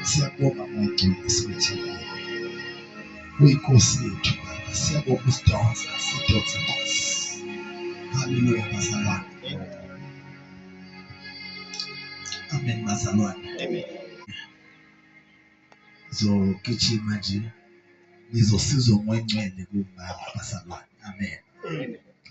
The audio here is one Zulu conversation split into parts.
siyabonga mongcwele esibethile uyinkosi yethu baba siyabonga usidonsa sidonsa nkosi haleluya bazalwane amen bazalwane amen zogijima nje nizosizwa ngwengcwele kumama basalwane amen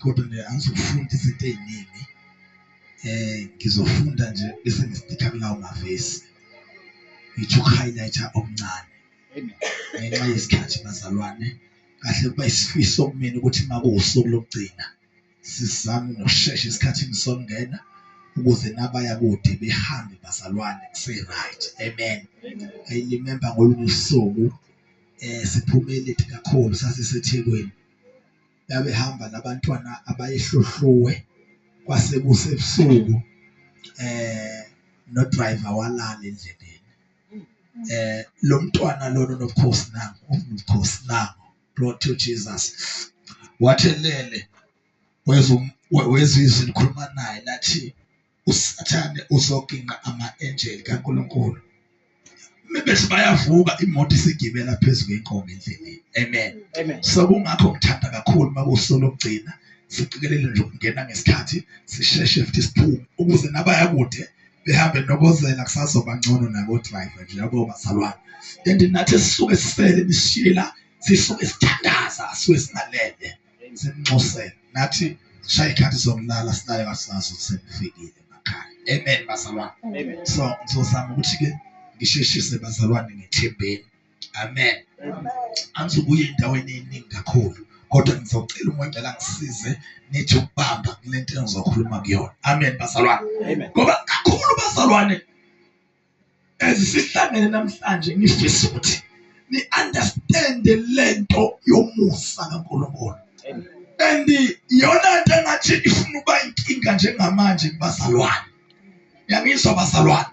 kodwa nje angizofunda izinto eziningi eh ngizofunda nje bese ngistika kulawo mavesi ngithi highlighter okuncane ngenxa yesikhathi bazalwane kahle kuba isifiso kumina ukuthi makuwusuku lokugcina Sizame ngokushesha esikhathini sokungena ukuze nabaya kude behambe bazalwane kuse-right amen i remember ngolunye usuku eh siphumele kakhulu sasisethekwini babehamba nabantwana abayehlohluwe kwase kusebusuku eh no driver walala endleleni eh lo mntwana lona nobukhosi nangu ubukhosi nangu Glory to Jesus. Wathelele wezizwi likhuluma naye lathi usathane uzoginqa ama-angel kaNkulunkulu. Bethi bayavuka imoto isigibela phezu kwenkomo endleleni. Amen. Amen. So kungakho ngithanda kakhulu makusolo kugcina siqikelele nje ukungena ngesikhathi sisheshe futhi siphume ukuze nabayakude behambe nobozela kusazoba ngcono nabo driver nje yabo bazalwane and nathi sisuke sisele bishila sisuke sithandaza sisuke singalele simnxusele nathi shaya ikhathi sokulala sinayo kasazo sekufikile emakhaya amen bazalwane so ngizozama ukuthi ke ngisheshise bazalwane ngethembeni amen angizobuya endaweni eningi kakhulu kodwa ngizocela umoya ngcela ngisize nithi ukubamba kule nto engizokhuluma kuyona amen bazalwane ngoba kakhulu bazalwane ezisihlangene namhlanje ngifisa ukuthi ni-understande le nto yomusa kankulunkulu and iyona nto engathi ifuna uba inkinga njengamanje kubazalwane yangizwa bazalwane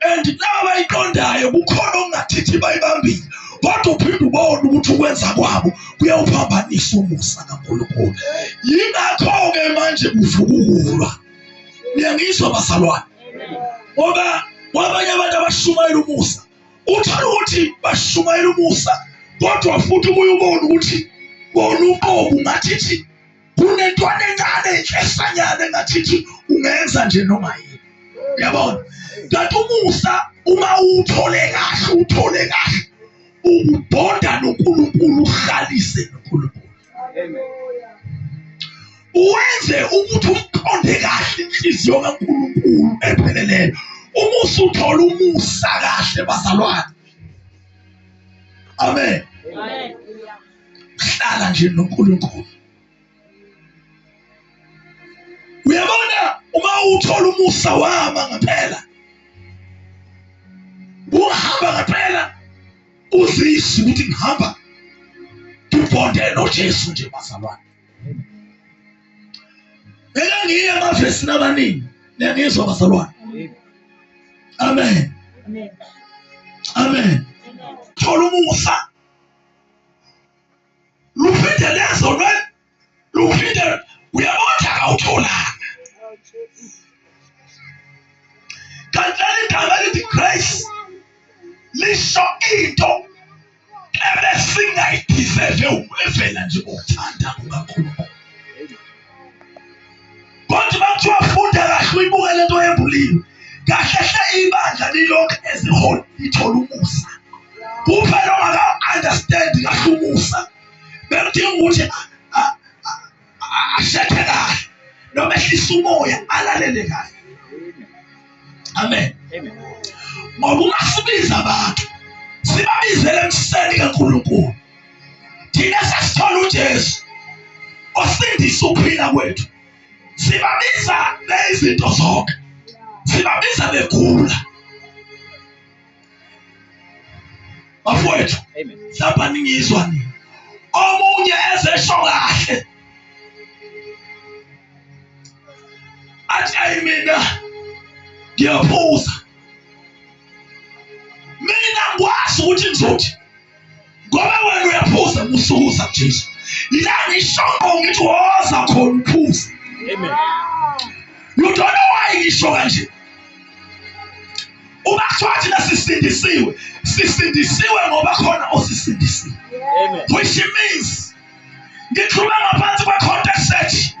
and laba bayiqondayo kukhona okungathithi bayibambile kodwa uphinde ubone ukuthi ukwenza kwabo kuyawuphambanisa umusa kankulunkulu yingakho-ke manje kuvukukulwa niyangizwa bazalwane ngoba kwabanye abantu abashumayela umusa uthola ukuthi bashumayela umusa kodwa futhi ubuye ubone ukuthi bona uqobo ngathi thi kunentwana encane inhlesanyana engathithi ungenza nje noma yini yabona kanti umusa uma uwuthole kahle uwuthole kahle ubonda noNkulunkulu uhlalise noNkulunkulu uwenze ukuthi uqonde kahle inhliziyo kaNkulunkulu epheleleyo uma usuthola umusa kahle bazalwane amen hlala nje noNkulunkulu uyabona uma uthola umusa wama ngaphela uhamba ngaphela uzise ukuthi ngihamba ngibonde noJesu nje bazalwane ngeke ngiye emavesini abaningi niyangizwa bazalwane amen amen thola umusa luphinde lezo lwe luphinde uyabona ukuthi akawutholanga kanti leli gama elithi grace lisho into ebesingayidizeve ukuvela nje ngokuthanda kukankulunkulu kodwa bakuthiwa funda kahle uyibuke le nto yembuliwe kahle hle ibandla lilokhu eziholi lithole umusa kuphela ongaka-understand kahle umusa bekudinga ukuthi ashethe kahle noma ehlisa umoya alalele kahle amen ngoba uma sibiza abantu sibabizele emseni kankulunkulu thina sasithola uJesu osindisa ukuphila kwethu sibabiza bezinto zonke sibabiza begula bafowethu saba ningizwa nini omunye ezesho kahle athi ayi mina ngiyaphuza mina ngikwazi ukuthi ngizothi ngoba wena uyaphuza kusukuza jesu yila ngishoko ngithi woza khona uphuza you don't know why ngisho kanje uma kuthiwa thina sisindisiwe sisindisiwe ngoba khona osisindisiwe which means ngikhuluma ngaphansi kwe-context sethi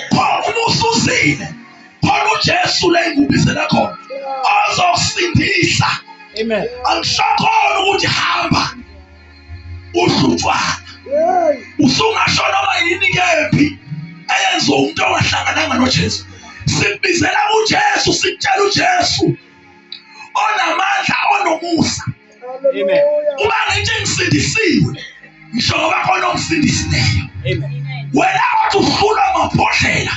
khona ususile khona ujesu leyingubizela khona ozosindisa angishakhona ukuthi hamba uhlutshwana usungasho noma yini kephi eyenza umuntu ongahlangananga nojesu sikubizela ujesu sikutshela ujesu onamandla onomusa uba ngentshe ngisindisiwe ngisho ngoba khona ongisindisileyo wena wathi uhlulwa mabhodlela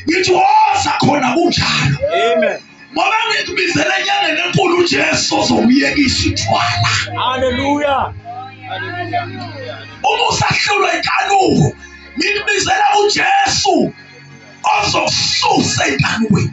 ngithi woza khona kunjalo ngoba ngikubizele enyangeni enkulu ujesu ozokuyekisa ithwala haleluya uma usahlulwa inkanuko ngikubizela ujesu ozokususa enkanukweni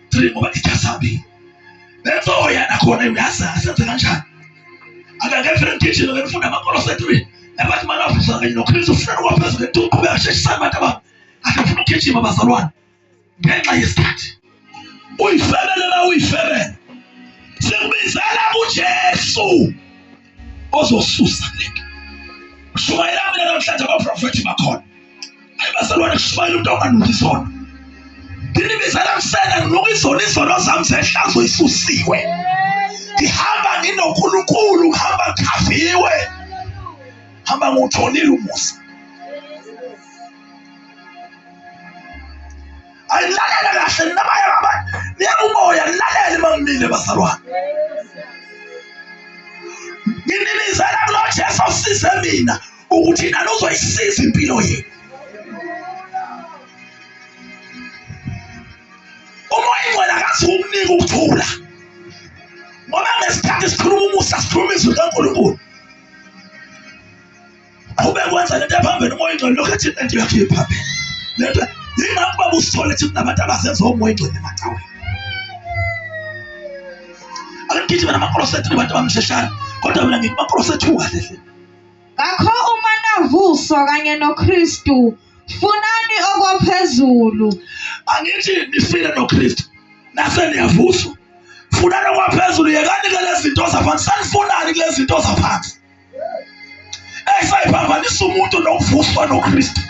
three ngoba ijasabile bezoya nakhona uyazi asenze kanjani akangevele ngigijime ngifunda amakolo sethree nabathi manje afisa kanye nokristu ufuna ukwaphezulu ngento uqhubeka sheshisana abantu abami akafuna ukugijima bazalwane ngenxa yesikhathi uyifebele la uyifebele sikubizela kujesu ozosusa kulento kushumayela mina namhlanje abaprofethi bakhona ayi bazalwane kushumayela umuntu onganuki izono ngini bizela kusena nginuka izono izono zami zehlazo isusiwe ngihamba nginonkulunkulu ngihamba ngikhaviwe hamba ngiwutholile umusa ayilalele kahle ninabaye baba niyakumoya nilalele mamile bazalwane nginibizela kulo jesu size mina ukuthi nani uzoyisiza impilo yenu umoya ingcwele akazi ukunika ukuthula ngoba ngesikhathi sikhuluma umusa sikhuluma izwi likankulunkulu awube kwenza lento ephambili umoya ingcwele lokhu ethi lento yakhe iphambili lento yingakho baba usithole ukuthi kunabantu abazenza omoya ingcwele emacaweni angithi mina amakrosethi nabantu abamsheshayo kodwa mina ngithi amakrosethi ungahle hle ngakho uma navuswa kanye noKristu funani okwaphezulu angithi nifile noKristu nase niyavuswa funani okwaphezulu yekani ke lezi zinto zaphansi sanifunani kulezi zinto zaphansi esayiphambanisa umuntu nokuvuswa nokristu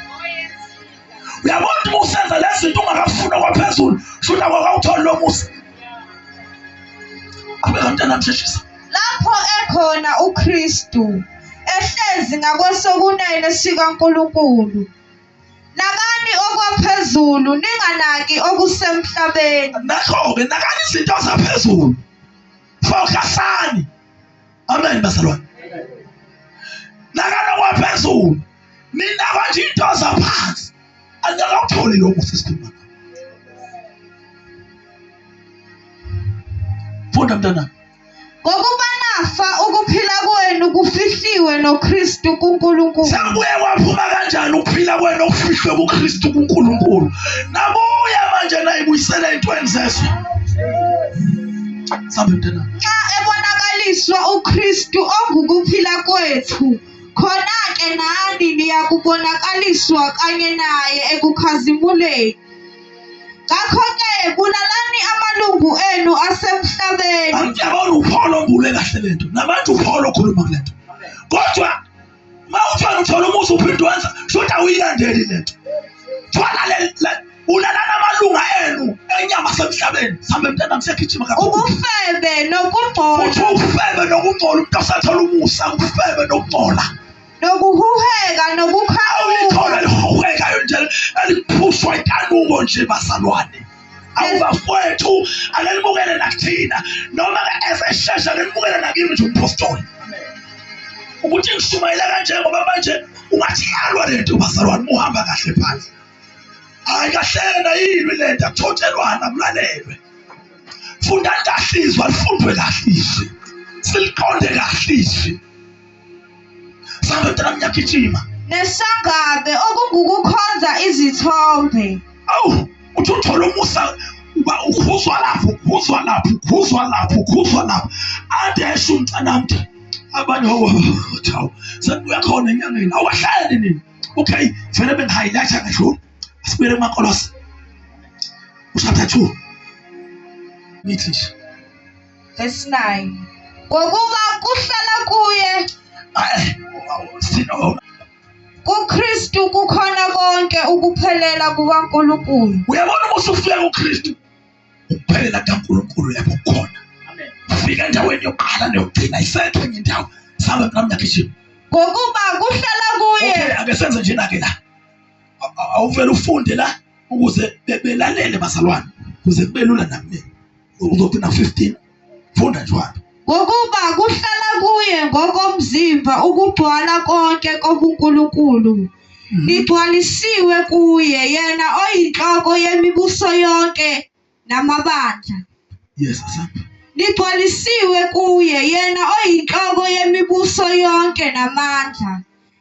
uyabona uma usenza le zinto ungakafuna kwaphezulu shuna kwakawutholi lo musa abekantana msheshisa lapho ekhona ukristu ehlezi ngakwesokunene sikankulunkulu nakani okwaphezulu ninganaki okusemhlabeni nakho-ke nakani izinto zaphezulu fokasani amen bazalwane nakanokuwa phezulu mina kwanje into zaphansi andakakutholi lokhu sesikhuluma funda mntanami ngokuba nafa ukuphila kwenu kufihliwe noKristu kuNkulunkulu sabuye kwaphuma kanjani ukuphila kwenu okufihlwe kuKristu kuNkulunkulu nabuya manje nayibuyisela intweni zeswe Sambe mntana. Nxa ebonakaliswa uKristu ongukuphila kwethu, khona-ke nani niyakubonakaliswa kanye naye ekukhazimuleni. Ngakho-ke bulalani amalungu enu asemhlabeni. Angiyabona uPaul ombule kahle lento. Namanje uPaul okhuluma kulento. Kodwa mawuthwala uthola umuzi uphinde wenza shuthi awuyilandeli lento thwala ulalana amalunga enu enyama semhlabeni sambe mntana msegijima ubufebe nokungcola uthi ubufebe nokungcola umuntu osathola umusa ubufebe nokungcola nokuhuheka nokukhaula awulikhona lihuhekayo nje eliphushwa itanuko nje bazalwane awubafowethu akelibukele nakuthina noma ezeshesha akelibukele nakimi nje umphostoli ukuthi ngishumayela kanje ngoba manje ungathiyalwa le nto bazalwane uhamba kahle phansi hayi kahlena yini le nto akuthotshelwana kulalelwe fundani kahle izwi alifundwe kahle izwi siliqonde kahle izwi Samba mntana ngiyagijima. Nesagabe okungukukhonza izithombe. Awu, uthi uthola umusa uba ukhuzwa lapho, ukhuzwa lapho, ukhuzwa lapho, ukhuzwa lapho. Ade esho umntana mntu. Abanye hawu, sekuya khona enyangeni. Awahlale nini? Okay, vele bengihighlighter ngedlula. Asibuyele kumakolose. Ushada 2. Ngithi nje Verse 9. Ngokuba kuhlala kuye kuKristu kukhona konke ukuphelela kukaNkulunkulu. Uyabona uma usufika kuKristu ukuphelela kukaNkulunkulu lapho khona. Ufika endaweni yokuqala neyokugcina isekho enye indawo. Sabe mnami nakishini. Ngokuba kuhlala kuye. Okay, ake senze njena ke la. Awuvele ufunde la ukuze belalele bazalwane kuze kube lula namina. uzothi na 15 funda njalo ngokuba kuhlala kuye ngokomzimba ukugcwala konke kobuNkulunkulu hmm. ligcwalisiwe kuye yena oyinhloko yemibuso yonke namabandla yes asapha ligcwalisiwe kuye yena oyinhloko yemibuso yonke namandla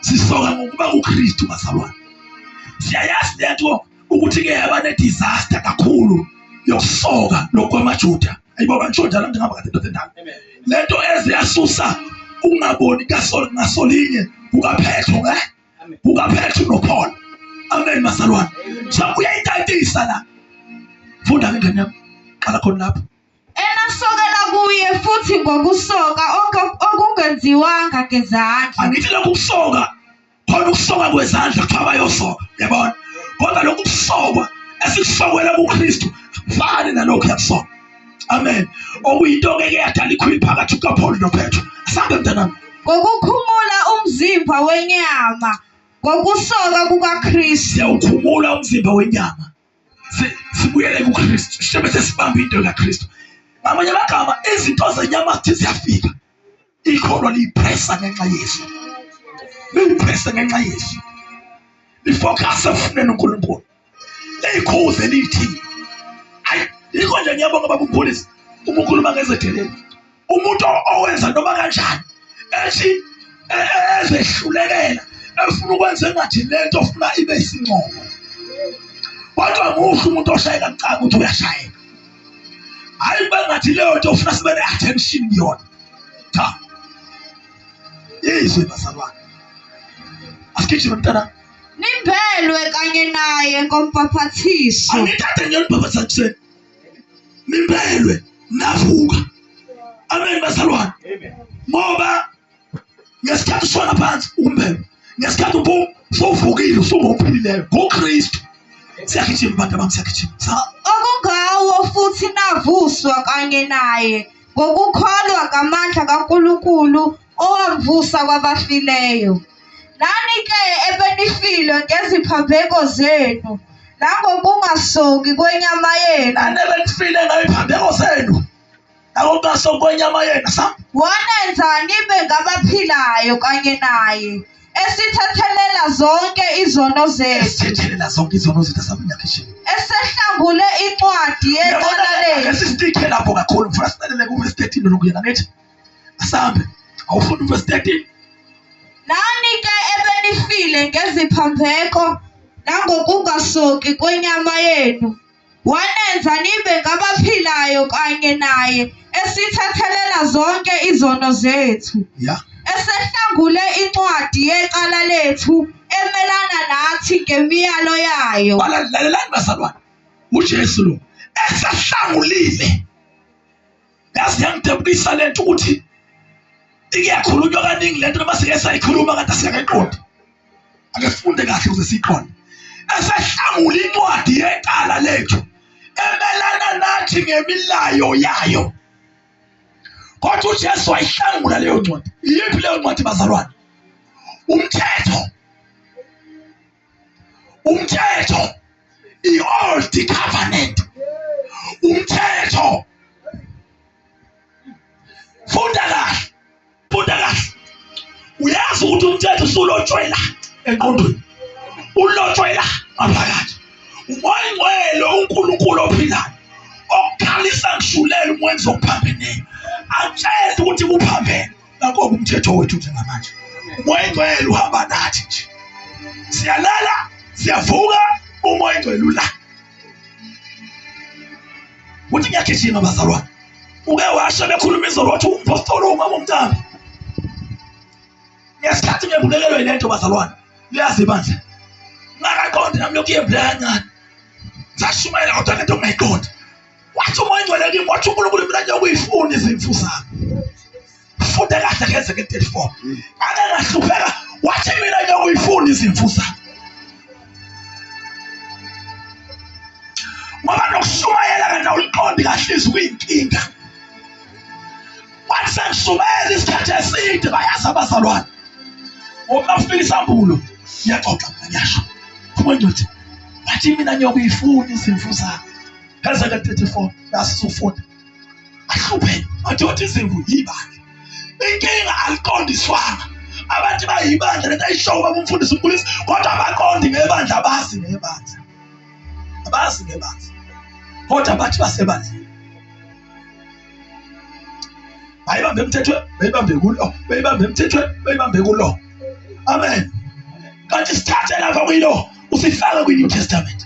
sisoka ngokuba kuKristu bazalwane siyayazi lento ukuthi ke yaba ne disaster kakhulu yokusoka lokwamaJuda ayibo kantshoja la ngihamba kade ndoda endala lento eze yasusa ukungaboni kasol ngasolinye kukaphetho ke kukaphetho noPaul amen bazalwane so uyayitatisa la funda ngengane yami qala khona lapho Enasokela kuye futhi ngokusoka okungenziwanga ngezandla. Angithi lokhu kusoka khona ukusoka kwezandla kuthiwa bayosoka yabona kodwa lokhu kusokwa esikusokela kuKristu fani nalokhu yakusokwa amen okuyinto-ke ke yadala ikhwili phakathi kukaphawuli nopetro asambe mntanami ngokukhumula umzimba wenyama ngokusoka kukakristu siyawukhumula umzimba wenyama sibuyele kuKristu sibe sesibamba into kaKristu ngamanye amagama izinto zenyama zithi ziyafika ikholwa liyipressa ngenxa yesu liyipressa ngenxa yesu lifocus efuneni uNkulunkulu leyikhuze lithi hayi yikho nje ngiyabonga baba uMfundisi uma ukhuluma ngezedeleni umuntu owenza noma kanjani ethi e, e, ezehlulekela efuna ukwenza engathi lento ofuna ibe isincomo kodwa muhle umuntu oshayeka mcanga ukuthi uyashayeka hayi kube ngathi leyo nto ofuna sibe ne-attention yona cha yizwe bazalwane asigijime mntana nimbelwe kanye naye ngombhaphathiso angithathe nje umbhaphathiseni nibelwe navuka amen bazalwane ngoba ngesikhathi usona phansi umbelwe ngesikhathi ubu sowuvukile usungophilileyo ngokristu siyagijima bantu abantu siyagijima sa okungawo futhi navuswa kanye naye ngokukholwa ngamandla kaNkulunkulu Owavusa kwabafileyo. Nani-ke ebenifile ngeziphambeko zenu nangokungasoki kwenyama yenu. Nani ebenifile ngeziphambeko zenu nangokungasoki kwenyama yenu. Sa? Wanenza nibe ngabaphilayo kanye naye esithethelela zonke izono zethu. Esithethelela zonke izono zethu asabunyakishini. Esehlangule incwadi yecala lethu. Esisithe lapho kakhulu mfana silalele ku-verse 13 lokuya ngakithi. asambe awufunda uverse 13 nani ke ebenifile ngeziphambeko nangokungasoki kwenyama yenu wanenza nibe ngabaphilayo kanye naye esithethelela zonke izono zethu yeah esehlangule incwadi yecala lethu emelana nathi ngemiyalo yayo balalelani bazalwane ujesu lo esehlangulile yazi yangidabukisa le nto ukuthi iyakhulunywa kaningi le nto noma sike sayikhuluma kanti asingakayiqondi ake sifunde kahle ukuze siyiqonde esehlangula incwadi yecala lethu emelana nathi ngemilayo yayo kodwa ujesu wayihlangula leyo ncwadi iyiphi leyo ncwadi bazalwane umthetho umthetho i-old covenant umthetho funda kahle funda kahle uyazi ukuthi umthetho usulotshwela enqondweni ulotshwela ngaphakathi umoyingcwele unkulunkulu ophilayo okukhalisa ngishulele umwenzi okuphambeneyo atshele ukuthi kuphambene Nakho umthetho wethu njengamanje. Umoya engcwele uhamba nathi nje. Siyalala, siyavuka, umoya engcwele ula. Uthi ngiyagijima bazalwane. Uke washo bekhuluma izolo wathi umpostoli uma umntana. Ngesikhathi ngebulekelwe lento bazalwane. Liyazi bandla. Ngakaqondi nami lokhu yebhlanya. Sashumayela kodwa lento ungayiqondi. wathi umoya ingcwele kimi wathi unkulunkulu mina nje ukuyifuna izimfu zami funde kahle ngeze nge-34 ake ngahlupheka wathi mina nje ukuyifuna izimfu zami ngoba nokushumayela kanti awuliqondi kahle izwi kuyinkinga wathi sengishumayela isikhathi eside bayazi abazalwane ngoba nakufika isambulo ngiyaxoxa mina ngiyasho umoya ingcwele wathi mina nje ukuyifuna izimfu zami Ezeke 34 nasizofunda ahlupheke madoda izimvu yibandla inkinga aliqondiswanga abantu bayibandla lento ayishowo baba umfundisi umkhulisi kodwa abaqondi ngebandla abazi ngebandla abazi ngebandla kodwa bathi basebandleni bayibambe emthethweni bayibambe kulo bayibambe emthethweni bayibambe kulo amen kanti sithathe lapha kuyilo usifake kwi-new testament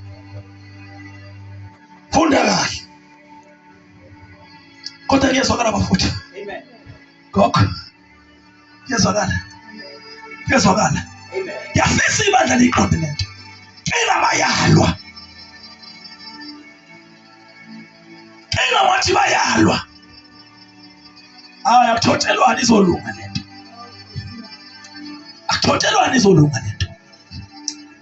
funda kahle kodwa kuyezwakala bafutha gogo kuyezwakala kuyezwakala yafisa ibandla liqonde lento cela bayalwa cela wathi bayalwa hayi akuthotelwani izolunga lento akuthotelwani izolunga lento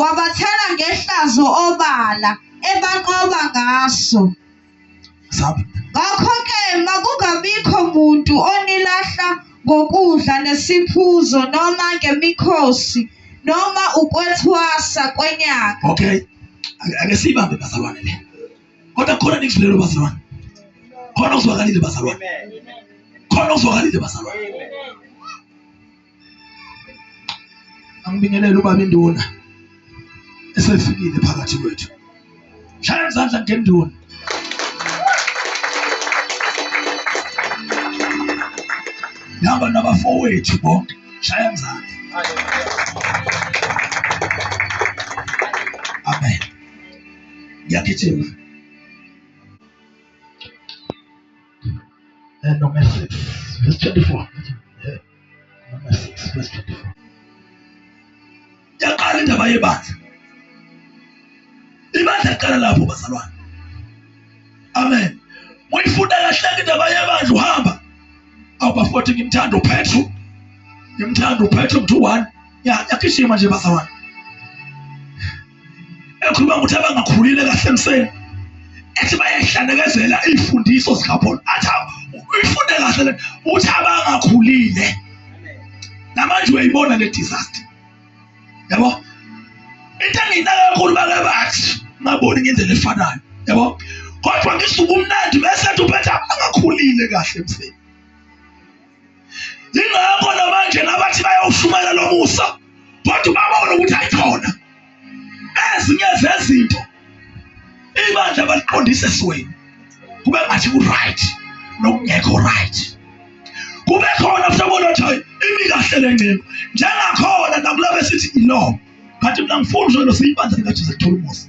Wabathela ngehlazo obala, ebanqoba ngaso. Sab. Ngakho-ke makungabikho muntu onilahla ngokudla nesiphuzo noma ngemikhosi noma ukwethwasa kwenyanga. Okay. Ake- Ake siyibambe bazalwane le. Kodwa khona nikuzwilelo bazalwane. Khona uzwakalile bazalwane. Khona uzwakalile bazalwane. angibingelele ubaba induna esefikile phakathi kwethu shaya izandla ngenduna nihamba nabafowethu bonke shaya izandla amen ngiyagijima and no message verse 24 Number 6 verse 24. Yaqala indaba yebandla. Ibandla liqala lapho bazalwane. Amen. Uyifunda kahle indaba yebandla uhamba. Awubafoti ngimthanda uPetru. Ngimthanda uPetru mthu 1. Ya yakishima nje bazalwane. ekhuluma ukuthi abangakhulile kahle emseni ethi bayahlanekezela iy'fundiso zikapolo athi uyifunde kahle le uthi abangakhulile namanje uyayibona le disaster yabo into engiyinaka kakhulu bake bathi ngaboni ngendlela efanayo yabo kodwa ngisuke umnandi bese ethi uphetha angakhulile kahle emseni yingakho namanje nabathi bayawushumayela lo musa kodwa ubabona ukuthi ayikhona ezinye zezinto ibandla baliqondise esweni kube ngathi ku-right nokungekho right kube khona mhlobona ukuthi hayi imi kahle le ncingo njengakhona nakulaba esithi iloo kanti mina ngifuna uzwe losiyibandla likajesu kuthola umusa